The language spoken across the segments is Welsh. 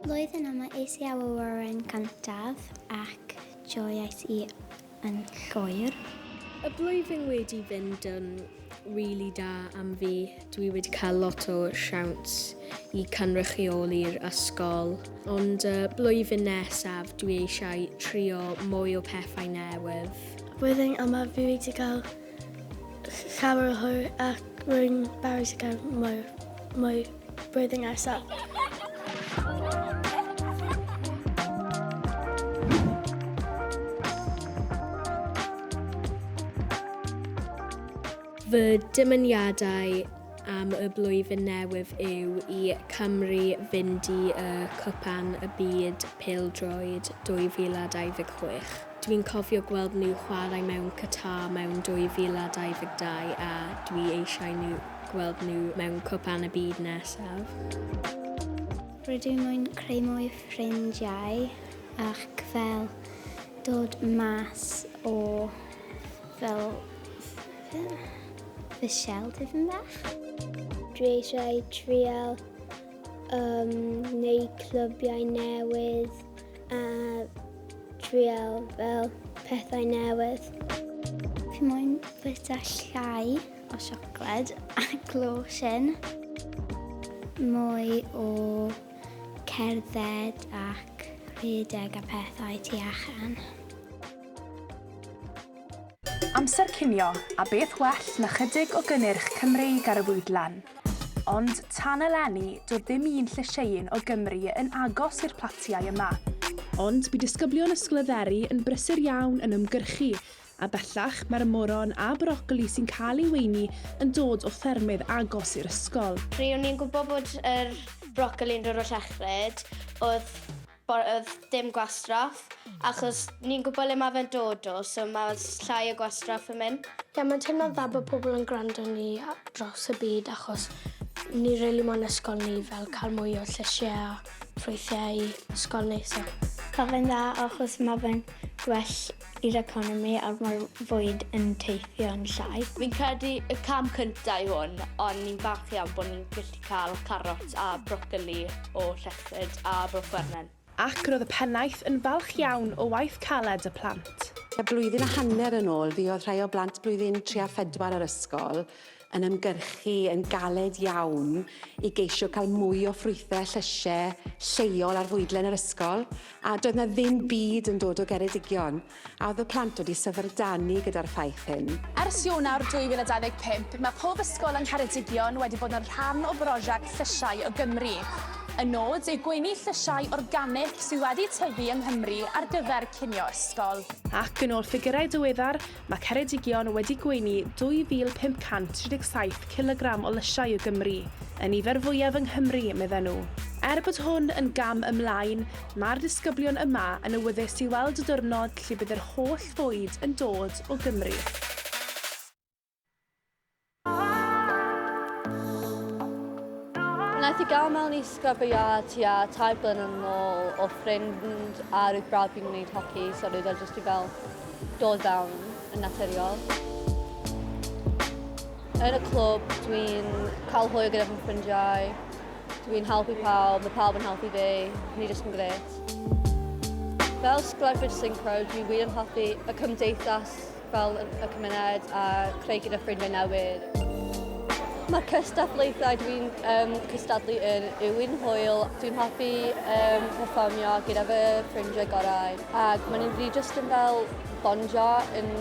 Blwyddyn yma es i awyren cyntaf ac joiais i yn llwyr. Y blwyddyn wedi fynd yn rili da am fi. Dwi wedi cael lot o siawns i cynrychioli'r ysgol, ond y blwyddyn nesaf dwi eisiau trio mwy o pethau newydd. Flwyddyn yma fi wedi cael llawer o hwyl ac rwy'n barus i gael mwy. Blwyddyn nesaf. Fy dymuniadau am y blwyddyn newydd yw i Cymru fynd i y Cwpan y Byd Pêl-droed 2026. Dw i'n cofio gweld nhw chwarae mewn Qatar mewn 2022 a dw i eisiau nhw gweld nhw mewn Cwpan y Byd nesaf. Rydw moyn creu mwy o ffrindiau ac fel dod mas o fel fy siel tipyn bach. Dwi eisiau trial um, neu clybiau newydd A trial fel pethau newydd. Fi moyn bwyta llai o siocled a glosin. Mwy o cerdded ac rhedeg a pethau tu allan. Amser cinio, a beth well na chydig o gynnyrch Cymreig ar y fwydlen? Ond tan eleni, doedd dim un llysieuyn o Gymru yn agos i'r platiau yma. Ond bu disgyblion Ysgol y Dderi yn brysur iawn yn ymgyrchu, a bellach mae'r moron a brocoli sy'n cael ei weini yn dod o ffermydd agos i'r ysgol. Ry'n ni'n gwybod bod yr brocoli'n dod o Llechfred, oedd. Bo- odd dim gwastraff achos ni'n gwbo le ma' fe'n dod o so ma' s- llai o gwastraff yn myn'. Ie ma'n teimlo'n dda bo' pobol yn gwrando ni a- draws y byd achos ni rili mo'n ysgol ni fel ca'l mwy o llysie a ffrwythie i ysgol ni so. Ma' fe'n dda achos ma' fe'n gwell i'r economi a mae'r fwyd yn teithio'n llai. Fi'n credu y cam cyntaf yw hwn ond ni'n falch iawn bod ni'n gallu cael carot a brocoli o Lletchford a Bro Gwernen. Ac roedd y pennaeth yn falch iawn o waith caled y plant. Tua blwyddyn a hanner yn ôl fuodd rhai o blant blwyddyn tri a phedwar yr ysgol yn ymgyrchu yn galed iawn i geisio cael mwy o ffrwythau a llysiau lleol ar fwydlen yr ysgol, a doedd 'na ddim byd yn dod o Geredigion, a oedd y plant wedi syfrdanu gyda'r ffaith hyn. Ers Ionawr 2025, mae pob ysgol yng Ngheredigion wedi bod yn rhan o brosiect Llysiau o Gymru. Y nod yw gweini llysiau organic sydd wedi tyfu yng Nghymru ar gyfer cinio ysgol. Ac yn ôl ffigyrau diweddar, Mae Ceredigion wedi gweini 2,537 cilogram o lysiau o Gymru, y nifer fwyaf yng Nghymru, medden nhw. Er bod hwn yn gam ymlaen, mae'r disgyblion yma yn awyddus i weld y diwrnod lle bydd yr holl fwyd yn dod o Gymru. Wnaeth i gael mewn i sgrabiau tua tair blynedd yn ôl o ffrind a roedd brawd fi'n gwneud hoci, so roedd o jyst i fel dod fewn yn naturiol. Yn y clwb, dwi'n cael hwyl gyda fy ffrindiau, dwi'n helpu pawb, mae pawb yn helpu fi, ni jyst yn gret. Fel sglefryd synchro, dwi wir yn hoffi y cymdeithas Fel y cymuned a creu gyda ffrindiau newydd. Mae'r cystadlaethau dwi'n um, cystadlu yn yw'n hwyl. Dwi'n hoffi um, performio gyda fy ffrindiau gorau. Ac mae'n rili jyst yn fel bondio yn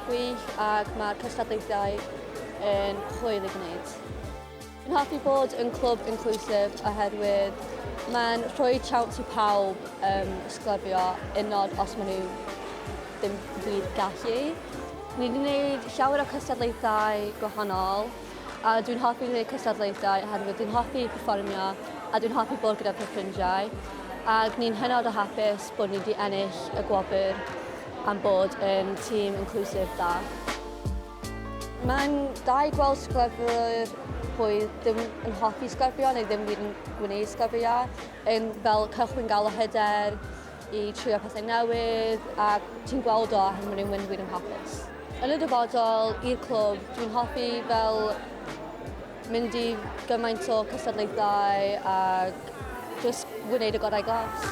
gwych ac mae'r cystadlaethau yn hwyl i gwneud. Fi'n hoffi bod yn clwb inclusive oherwydd mae'n rhoi siawns i pawb um, sglefio unod os maen nhw ddim wir gallu. Ni wedi gwneud llawer o cystadlaethau gwahanol a dwi'n hoffi gwneud cystadlaethau oherwydd dwi'n hoffi perfformio a dwi'n hoffi bod gyda fy ffrindiau ac ni'n hynod o hapus bod ni wedi ennill y gwobr am bod yn tîm inclusive da. Mae'n da i gweld sgwefr pwy ddim yn hoffi sgwefrio neu ddim yn gwneud sgwefrio, yn fel cychwyn gael o hyder i trio pethau newydd a ti'n gweld o achos mae nhw'n mynd wir yn hapus. Yn y dyfodol, i'r clwb, dwi'n hoffi fel mynd i gymaint o cystadlaethau a just wneud y gorau glas.